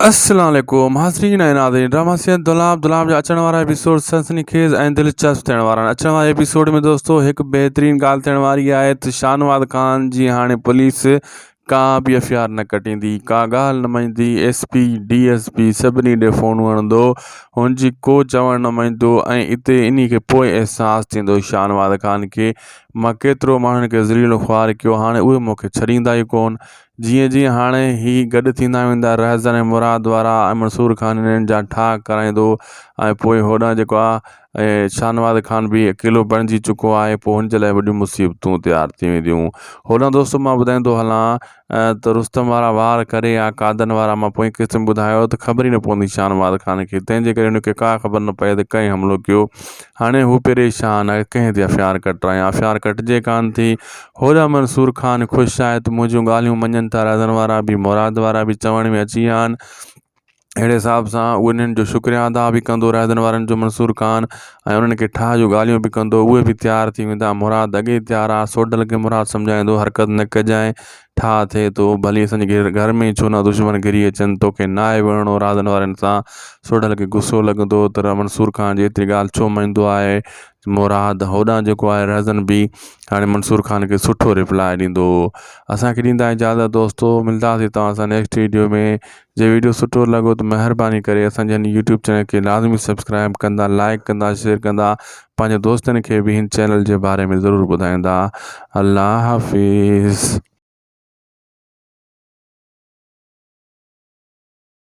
السلام عليڪم حاضرين ۽ ناظرين ڊرامه سيد دولاب دولاب جا اچڻ وارا ايپيسوڊ سنسني خيز ۽ دلچسپ ٿيڻ وارا آهن اچڻ واري ايپيسوڊ ۾ دوستو هڪ بهترين ڳالهه ٿيڻ واري آهي ته شاهنواز خان جي هاڻي پوليس ڪا به ايف آر نه ڪٽيندي ڪا ڳالهه نه مڃندي S P D S P سڀني ڏي فونون هڻندو هن جي ڪو چوڻ نه مڃندو ۽ اتي انهي کي پوء احساس ٿيندو شاهنواز خان کي مان ڪيترو ماڻهن کي ذليل و خوار ڪيو هاڻي اهي مون کي ڇڏيندا ئي ڪون جيئن جيئن هاڻي هي گڏ ٿيندا ويندا رهزن ۽ مراد وارا ۽ منصور خان هنن جا ٺاهه ڪرائيندو ۽ پوء هوڏانهن جيڪو آ ۽ شاهنواز خان به اڪيلو بڻجي چڪو آهي پوء هن جي لاء وڏيون مصيبتون تيار ٿي وينديون هوڏانهن دوستو مان ٻڌائيندو هلان ته رستم وارا وار ڪري يا قادن وارا مان پوئين قسط ۾ ٻڌايو ته خبر ئي نه پوندي شاهنواز خان کي تنهن جي ڪري هن کي ڪا خبر نه پئي ته ڪنهن حملو ڪيو هاڻي هو پريشان آهي ڪنهن تي هٿيار ڪٽرائيان هٿيار ڪٽجي ڪانه ٿي هوڏانهن منصور خان خوش آهي ته منهنجون ڳالهيون مڃن ٿا رهزن وارا به مراد وارا به چوڻ ۾ اچي ويا آهن اهڙي حساب سان اهو انهن جو شڪريا ادا به ڪندو رهزن وارن جو منصور خان ۽ انهن کي ٺاهه جون ڳالهيون به ڪندو اهي به تيار ٿي ويندا مراد اڳي ئي تيار آهي سوڍل کي مراد سمجهائيندو حرڪت نه ڪجانء ٺاهه ٿئي ٿو ڀلي اسان جي گهر ۾ ئي ڇو نه دشمن گهري اچن توکي ناهي وڙهڻو رهزن وارن سان سوڍل کي غصو لڳندو ته منصور خان جي ايتري ڳالهه ڇو مڃيندو آهي مراد هوڏانهن جيڪو آهي رهزن به هاڻي منصور خان کي سٺو ريپلاء ڏيندو هو اسانکي ڏيندا اجازت دوستو ملداسي توهان سان نيڪسٽ ويڊيو ۾ جي ويڊيو سٺو لڳو ته مهرباني ڪري اسانجي هن يوٽيوب چينل کي لازمي سبسڪرائب ڪندا لائڪ ڪندا شيئر ڪندا پنهنجي دوستن کي به هن چينل جي باري ۾ ضرور ٻڌائيندا الله حافظ